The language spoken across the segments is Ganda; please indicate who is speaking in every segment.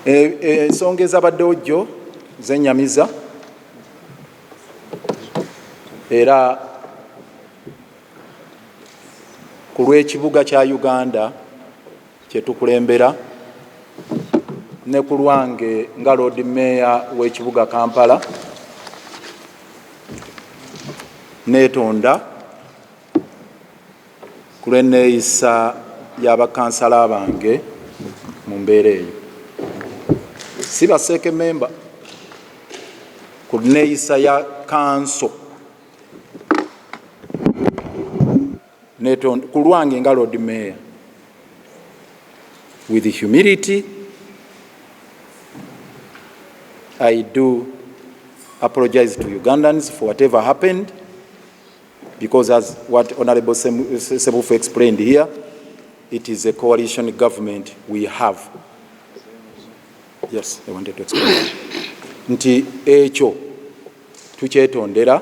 Speaker 1: Eh, eh, ensonga ezabaddewo jjo zenyamiza era ku lw'ekibuga kya uganda kyetukulembera ne ku lwange nga loodi meeya w'ekibuga kampala neetonda ku lw'enneeyisa ya bakansala bange mu mbeera eyo si baseeke memba ku nneeyisa ya kanso ku lwange nga lord mayor with humility i do apologize to ugandans for whatever happened Because as what Honorable Sebufu explained here, it is a coalition government we have. Yes, I wanted to explain. Nti ekyo tukyetondera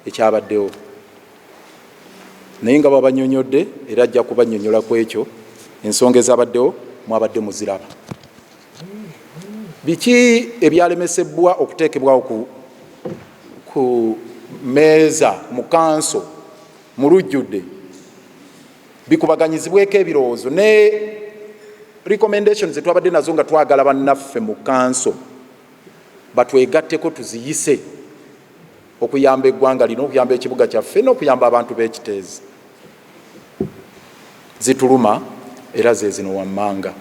Speaker 1: ekyabaddewo naye nga babanyonyodde era ajja kubanyonyola ku ekyo ensonga ezabaddewo mwabadde muziraba. Biki ebyalemesebbwa okuteekebwawo ku, ku meeza mu kanso mu lujjudde bikubaganyizibweko ebirowoozo ne recommendation zetwabadde nazo nga twagala bannaffe mu kanso batwegatteko tuziyise okuyamba eggwanga lino, okuyamba ekibuga kyaffe n'okuyamba abantu b'e Kiteezi. Zituluma era ze zino wammanga.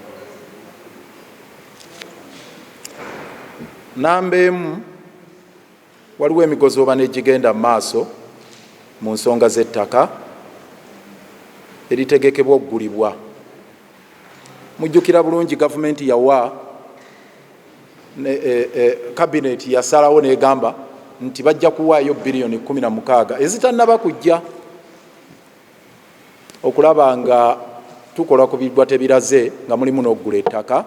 Speaker 1: Nnamba emu, waliwo emigozoobana egigenda mu maaso mu nsonga z'ettaka eritegekebwa okugulibwa. Mujjukira bulungi gavumenti yawa kabineeti eh, eh, yasalawo negamba nti bajja kuwaayo biliyoni kumi na mukaaga ezitanaba kujja okulaba nga tukola ku bigwa tebiraze nga mulimu n'okugula ettaka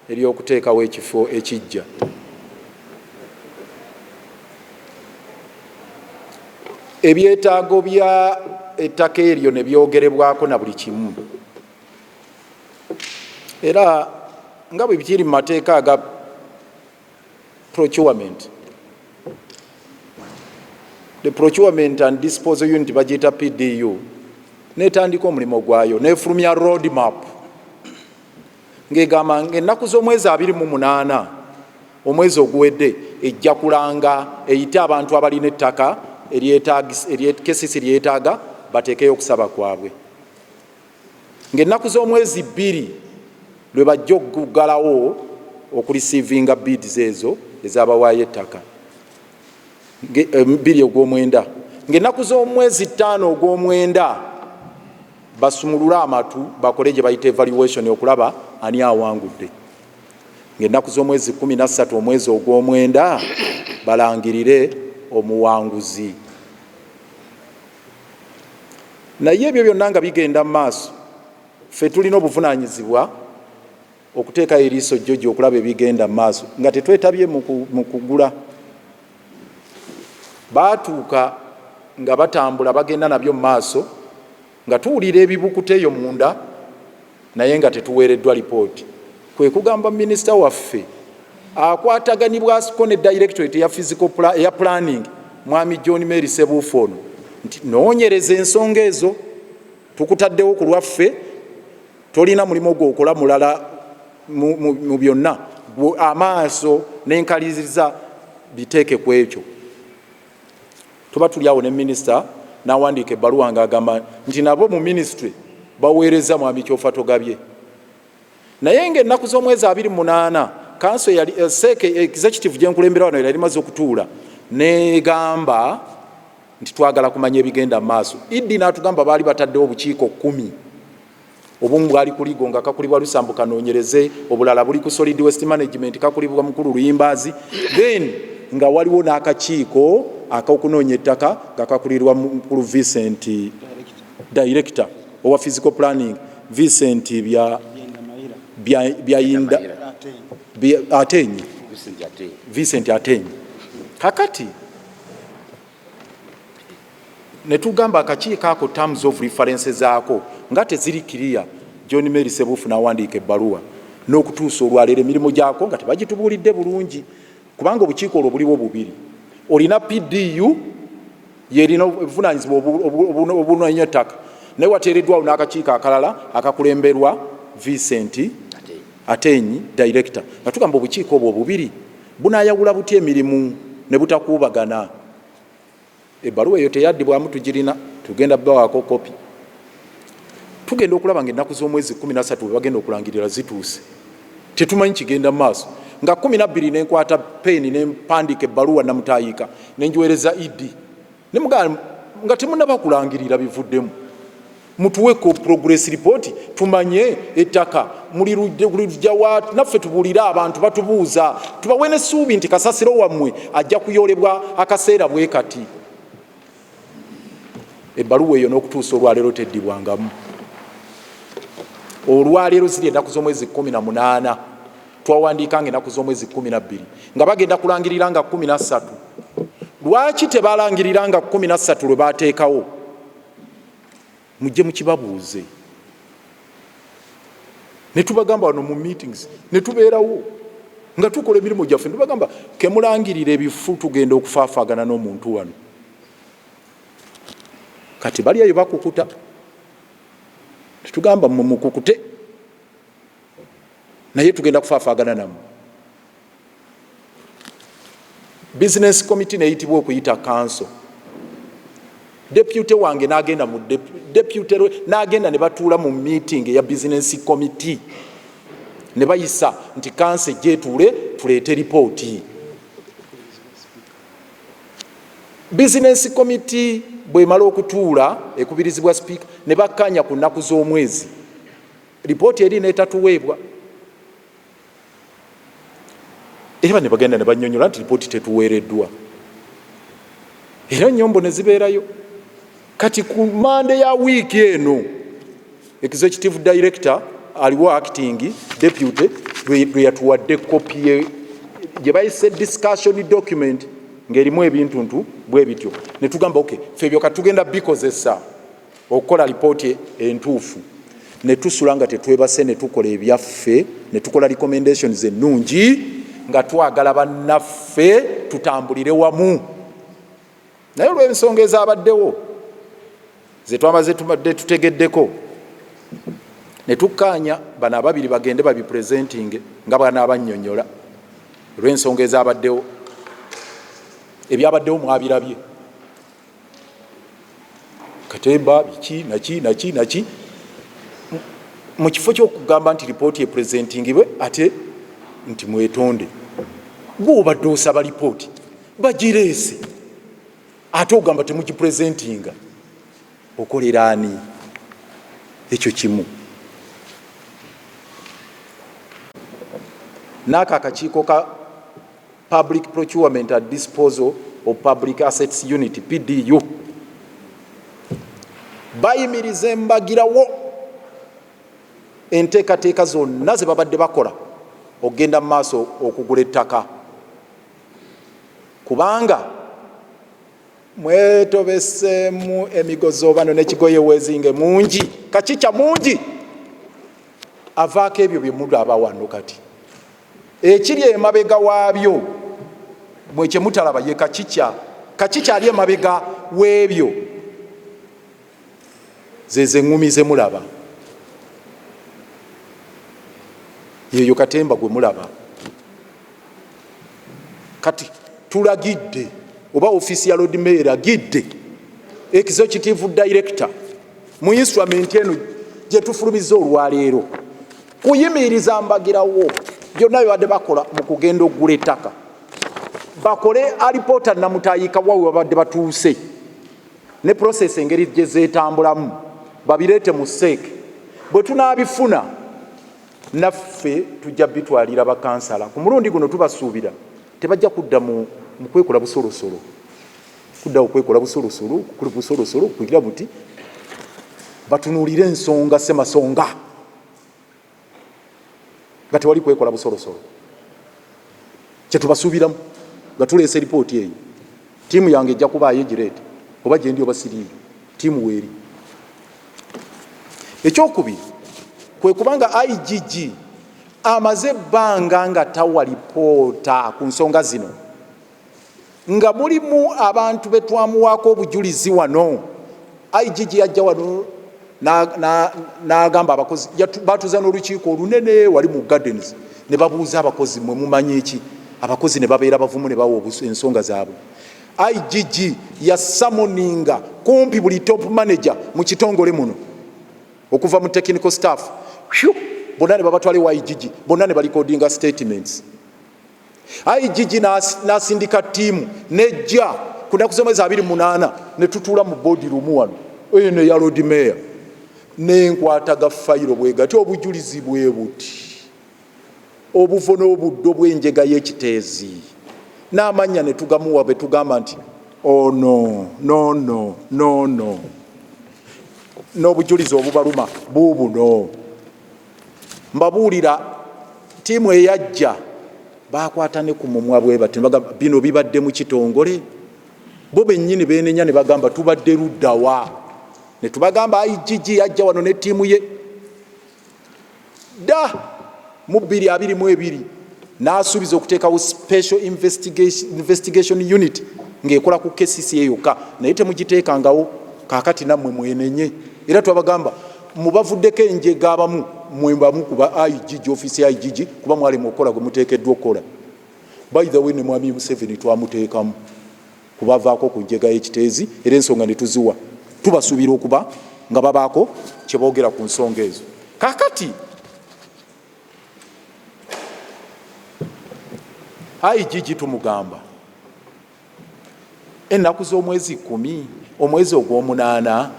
Speaker 1: ery'okuteekawo ekifo ekiggya ebyetaago bya ettaka eryo ne byogerebwako na buli kimu era nga bwe bikiri mu mateeka aga procurement the procurement and disposal unit bagiyita pdu n'etandika omulimu gwayo n'efulumya road map ng'egamba ng'ennaku z'omwezi abiri mu munaana omwezi oguwedde ejja kulanga eyite abantu abalina ettaka eryekesisi lyetaaga bateekeyo okusaba kwabwe ng'ennaku z'omwezi bbiri lwe bajja okuggalawo okulisiivinga bids ezo ezabawaayo ettaka eh, bbiri ogw'omwenda ng'ennaku z'omwezi ttaano ogw'omwenda basumulule amatu bakole gye bayita evaluation okulaba ani awangudde ng'ennaku z'omwezi kkumi na ssatu omwezi ogw'omwenda balangirire omuwanguzi naye ebyo byonna nga bigenda mu maaso ffe tulina obuvunaanyizibwa Okuteekayo eriiso jjoji okulaba ebigenda mu maaso nga tetwetabye mu kugula. Baatuuka nga batambula bagenda nabyo mu maaso nga tuwulira ebibukuta eyo munda naye nga tetuweereddwa lipooti, kwe kugamba minisita waffe akwataganibwako ne dayirekitoreti eya pulaningi Mwami John Mary Ssebuufu ono nti noonyereza ensonga ezo tukutaddewo ku lwaffe Tolina mulimu gwokola mulala mu byonna, gwe amaaso n'enkaliriza biteeke ku ekyo. Tuba tuli awo ne minisita n'awandiika ebbaluwa ng'agamba nti nabo mu minisitule baweerezza mwami Kyofatogabye. Naye ng'ennaku z'omwezi abiri mu munaana kanso eyali eh, seeke eh, executive gye nkulembera wano yali maze okutuula n'egamba nti twagala kumanya ebigenda mu maaso. Iddi n'atugamba baali bataddewo obukiiko kkumi. Obumu bwali ku Ligo nga kakulibwa Lusambu Kanoonyereze, obulala buli ku Solid Waste Management kakulibwa Mukulu Luyimbaazi, then nga waliwo n'akakiiko ak'okunoonya ettaka nga kakulirwa Mukulu Vincent Director owa Physical Planning Vincent bya byayinda Ateenyi Vincent Ateenyi kakati ne tugamba akakiiko ako terms of reference zaako nga teziri kiriya john mary sebuufu n'awandiika ebbaluwa n'okutuusa olwaleero emirimu gyako nga tebagitubuulidde bulungi kubanga obukiiko olwo buliwo bubiri olina pdu yerina obuvunanyizibwa obunanya ettaka naye wateereddwawo n'akakiiko akalala akakulemberwa vincent atenyi director nga tugamba obukiiko obwo obubiri Bunaayawula butya emirimu ne butakuubagana? Ebbaluwa eyo teyaddibwamu, tugirina, tugenda bawaako kopi. Tugenda okulaba nga ennaku z'omwezi kkumi na ssatu bwe bagenda okulangirira zituuse. Tetumanyi kigenda maaso. Nga kkumi na bbiri ne nkwata peeni ne mpandiika ebbaluwa Namutaayiika ne ngiweereza Idi. Ne mugamba nga temunaba kulangirira bivuddemu mutuwe ko progress report tumanye ettaka muli lujja wa naffe tubulire abantu batubuuza tubawe n'essuubi nti kasasiro wammwe ajja kuyoolebwa akaseera bwe kati ebbaluwa eyo n'okutuusa olwaleero teddibwangamu olwaleero ziri ennaku z'omwezi kumi na munaana twawandiika nga enaku z'omwezi kumi nabbiri nga bagenda kulangirira nga kumi nassatu lwaki tebalangirira nga kumi nassatu lwe bateekawo mujje mukibabuuze ne tubagamba wano mu meetings ne tubeerawo nga tukola emirimu gyaffe nebagamba kemulangirira ebifu tugenda okufaafagana n'omuntu wano kati balyayo bakukuta tetugamba mumukukute naye tugenda kufaafagana namu bizinesi komiti neyitibwa okuyita kanso depute wange nagenda mu depute lwe nagenda ne batuula mu meeting eya bizinesi komiti ne bayisa nti kanso ejjetuule tuleete lipooti bizinesi komiti bwemala okutuula ekubirizibwa sipiika ne bakkaanya ku nnaku z'omwezi lipooti eri netatuweebwa era ne bagenda ne banyonyola nti lipooti tetuweereddwa era nyombo ne zibeerayo kati ku mande ya wiiki eno executive director aliwo acting deputy lwe yatuwadde kopi gye bayise discussion document ng'erimu ebintuntu bwe bityo ne tugamba oky ffe ebyo katugenda bikozesa okukola alipooti entuufu netusula nga tetwebase netukola ebyaffe netukola recommendations ennungi nga twagala bannaffe tutambulire wamu naye olw'ensonga ezabaddewo zetwamaze tubadde tutegeddeko netukkaanya bano ababiri bagende babipresentinge nga bwanaabanyonyola olw'ensonga ezabaddewo ebyabaddewo mwabirabye katemba biki naki naki naki mu kifo kyokugamba nti lipooti epresentingibwe ate nti mwetonde gweobadde osaba lipooti bagireese ate ogamba temugipresentinga okolera ani ekyo kimu naako akakiiko ka Public Procurement and Disposal of Public Assets Unit, PDU, bayimiriza embagirawo enteekateeka zonna ze babadde bakola okugenda mu maaso okugula ettaka kubanga mwetobeseemu emigozoobano n'ekigoye wezinge mungi kakica mungi avaako ebyo bye mulaba wano kati Ekiri emabega waabyo mwe kye mutalaba ye kacica. Kacica ali emabega w'ebyo zezo eŋŋumi ze mulaba, yeeyo katemba gwe mulaba. Kati tulagidde oba ofiisi ya lord mayor eragidde executive director mu instrument eno gyetufulumiza olwaleero kuyimiriza mbagirawo byonna bibadde bakola mu kugenda okugula ettaka bakole alipoota namutayika wa webabadde batuuse ne process engeri gye zeetambulamu babireete mu seeke bwe tunaabifuna naffe tujja bitwalira bakansala ku mulundi guno tubasuubira tebajja kudda mu kwekola busolosolo kudda okwekola busolosolo kuli busolosolo kugira buti batunuulire ensonga semasonga nga tewali kwekola busolosolo kyetubasuubiramu nga tuleesa eripooti eyo tiimu yange ejja kubaayo egireete oba gyendi oba siriiyo tiimu weeri ekyokubiri kwe kubanga igg amaze ebbanga nga tawa lipoota ku nsonga zino nga mulimu abantu be twamuwaako obujulizi wano igg yajja wano n'agamba abakozi batuza n'olukiiko olunene wali mu gardens ne babuuza abakozi mwe mumanyi eki abakozi ne babeera bavumu ne bawa ensonga zaabwe igg yasamoninga kumpi buli top manager mu kitongole muno okuva mu technical staff bonna ne babatwala ewa igg bonna ne balikodinga statements IGG n'asindika ttiimu n'ejja ku nnaku z'omwezi abiri munaana ne tutuula mu boodi lumu wano eno eya loodi meeya n'enkwata ga fayiro bwe gati obujulizi bwe buti obuvo n'obuddo bw'enjega y'ekiteezi n'amannya ne tugamuwa be tugamba nti ono oh, nono nono n'obujulizi obubaluma buubuno mbabuulira tiimu eyajja bakwata ne ku mumwa bwe bati bagamba bino bibadde mu kitongole bo bennyini beenenya ne bagamba tubadde luddawa ne tubagamba igg yajja wano ne tiimu ye dda mu bbiri abiri mu ebiri n'asuubiza okuteekawo special investigation unit ng'ekola ku kesisi eyokka naye temugiteekangawo kaakati nammwe mwenenye era twabagamba mu bavuddeko enjega abamu mwe bamu kuba igg ofiisi ya igg kuba mwalema okukola gwe muteekeddwa okukola by the way ne mwami museveni twamuteekamu kubavaako ku njega y'ekiteezi era ensonga ne tuziwa tubasuubira okuba nga babaako kye boogera ku nsonga ezo kakati igg tumugamba ennaku z'omwezi kumi omwezi ogw'omunaana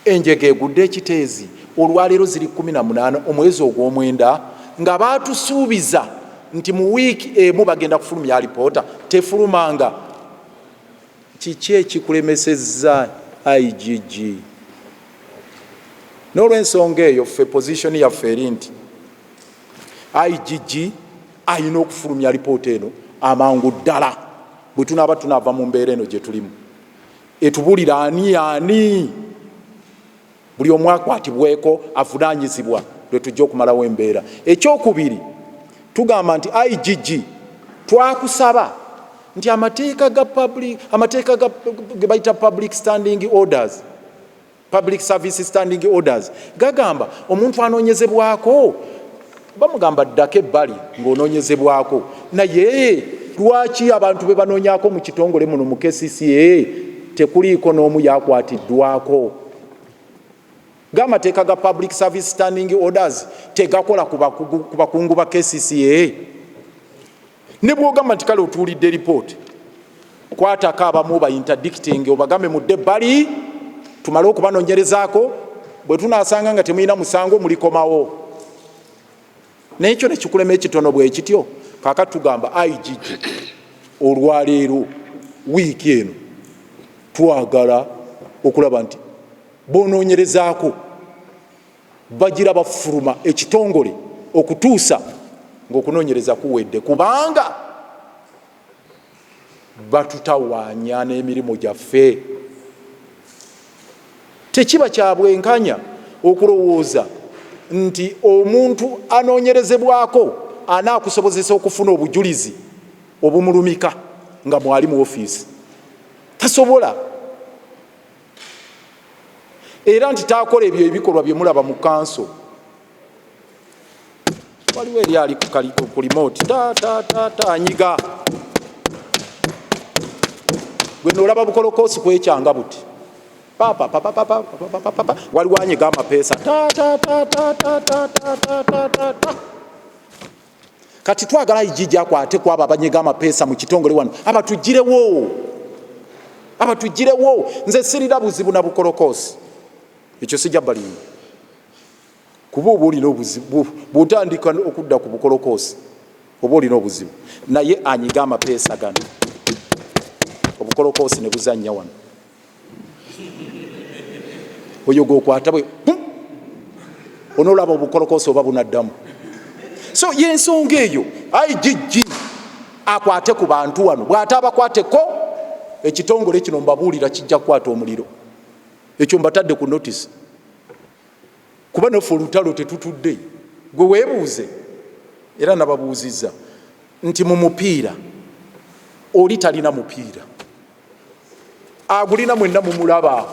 Speaker 1: enjega egudde ekiteezi olwaleero ziri kumi na munaana omwezi ogw'omwenda nga baatusuubiza nti mu wiiki emu bagenda kufulumya alipoota tefulumanga kiki ekikulemesezza igg n'olwensonga eyo ffe pozisioni yaffe eri nti IGG alina okufulumya alipoota eno amangu ddala bwe tunaaba tunaava mu mbeera eno gye tulimu etubulira ani ani buli omu akwatibweko avunaanyizibwa lwe tujja okumalawo embeera ekyokubiri tugamba nti igg twakusaba nti amateeka ga amateeka ge bayita public standing orders Public Service Standing Orders gagamba omuntu anoonyezebwako bamugamba ddako ebbali ng'onoonyezebwako naye lwaki abantu be banoonyako mu kitongole muno mu kcca tekuliiko n'omu yakwatiddwako ng'amateeka ga Public Service Standing Orders tegakola ku bakungu ba kcca ne bwogamba nti kale otuulidde lipooti kwatako abamu bayintadicting obagambe mudde bali tumale okubanonyerezaako bwe tunasanga nga temulina musango mulikomawo naye kyo nekikulema ekitono bwekityo kaka tugamba igg olwaleero wiiki eno twagala okulaba nti bononyerezaako bagira bafuluma ekitongole okutuusa ngaokunonyereza kuwedde kubanga batutawanya n'emirimu gyaffe tekiba kyabwenkanya okulowooza nti omuntu anoonyerezebwako anaakusobozesa okufuna obujulizi obumulumika nga mwali mu ofiisi tasobola era nti taakola ebyo ebikolwa bye mulaba mu kanso waliwo eri ali ku limoti tatatata anyiga gwe noolaba bukolokoosi kwekyanga buti waliwo anyiga amapeesa tatatata kati twagala ijiji akwate kwabo abanyega amapeesa mu kitongole wano abatugirewo abatugirewo nze sirira buzibu na bukolokoosi ekyo sijja balimba kuba oba olina obuzibu bwotandika okudda ku bukolokoosi oba olina obuzibu naye anyiga amapeesa gano obukolokoosi ne buzannya wano oyo gwokwata bwe onoolaba obukolokoosi oba bunaddamu so yensonga eyo igg akwate ku bantu wano bw'ata abakwateko ekitongole kino mbabuulira kijja kukwata omuliro ekyo mbatadde ku notisi kuba naffe olutalo tetutudde gwe weebuuze era nababuuzizza nti mu mupiira oli talina mupiira agulina mwenna mumulaba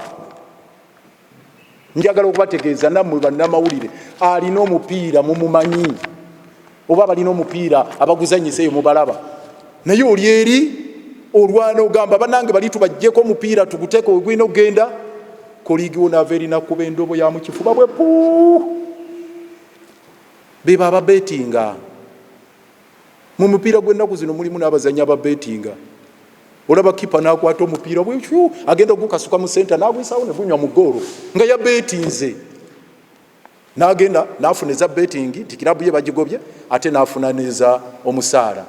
Speaker 1: njagala okubategeeza nammwe bannamawulire alina omupiira mumumanyi oba balina omupiira abaguzanyisa eyo mubalaba naye oli eri olwana ogamba banange bali tubajjeko omupiira tuguteeka ogulina okugenda koligi wonaava erina kuba endobo ya mukifuba bwe puu beba ababetinga Mu mupiira gw'ennaku zino mulimu n'abazannyi ababeetinga. Olaba kipa n'akwata omupiira bwekyu agenda okugukasuka mu senta n'aguyisaawo ne gunywa mu ggoolo nga yabeetinze n'agenda n'afuna eza beetingi nti kirabu ye bagigobye ate n'afuna n'eza omusaala.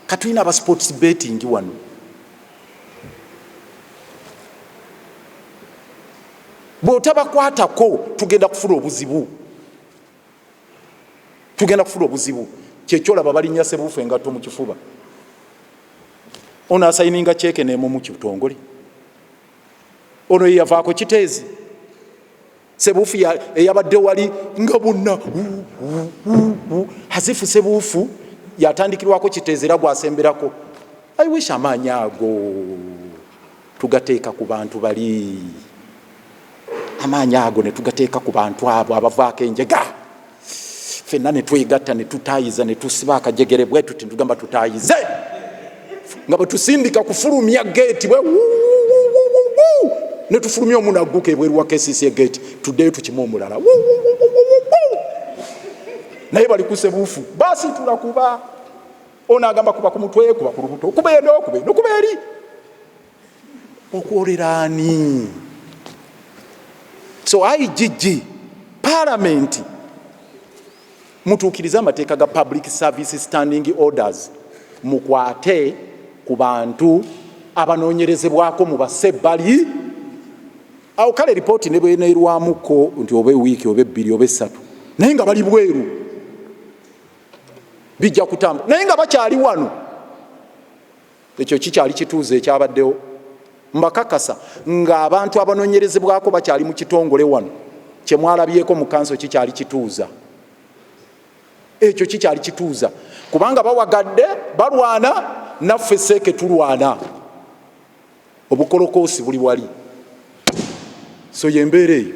Speaker 1: Katulina aba sports beetingi wano. Bw'otabakwatako tugenda kufuna obuzibu. tugenda kufuna obuzibu kyekyolaba balinya sebuufu engatto mu kifuba ono asayininga kyeke nemu mu kitongole ono yeyavaako kiteezi sebuufu eyabadde wali nga bonna hazifu sebuufu yatandikirwako kiteezi era gwasemberako i wish amaanyi ago tugateeka ku bantu bali, amaanyi ago ne tugateeka ku bantu abo abavaako enjega, fenna ne twegatta ne tutaayiza ne tusiba akajegere bwe tuti ne tugamba tutaayize nga bwe tusindika kufulumya geeti bwe ne tufulumya omuntu agguka ebweru wa KCC geeti tuddeyo tukime omulala naye bali kusebuufu baasitula kuba ono agamba kuba ku mutwe kuba ku lubuto okuba eno okuba eno okuba eri okwolera ani so igg palamenti mutuukirize amateeka ga public service standing orders mukwate ku bantu abanoonyerezebwako mu basebbali awo kale lipooti ne bweneerwamuko nti oba ewiiki oba ebbiri oba essatu naye nga bali bweru bijja kutamba naye nga bakyali wano ekyo kikyali kituuza ekyabaddewo mbakakasa nga abantu abanonyerezebwako bakyali mu kitongole wano kyemwalabyeko mu kanso kikyali kituuza ekyo kikyali kituuza kubanga bawagadde balwana naffe seeke tulwana obukolokoosi buli wali so yembeera eyo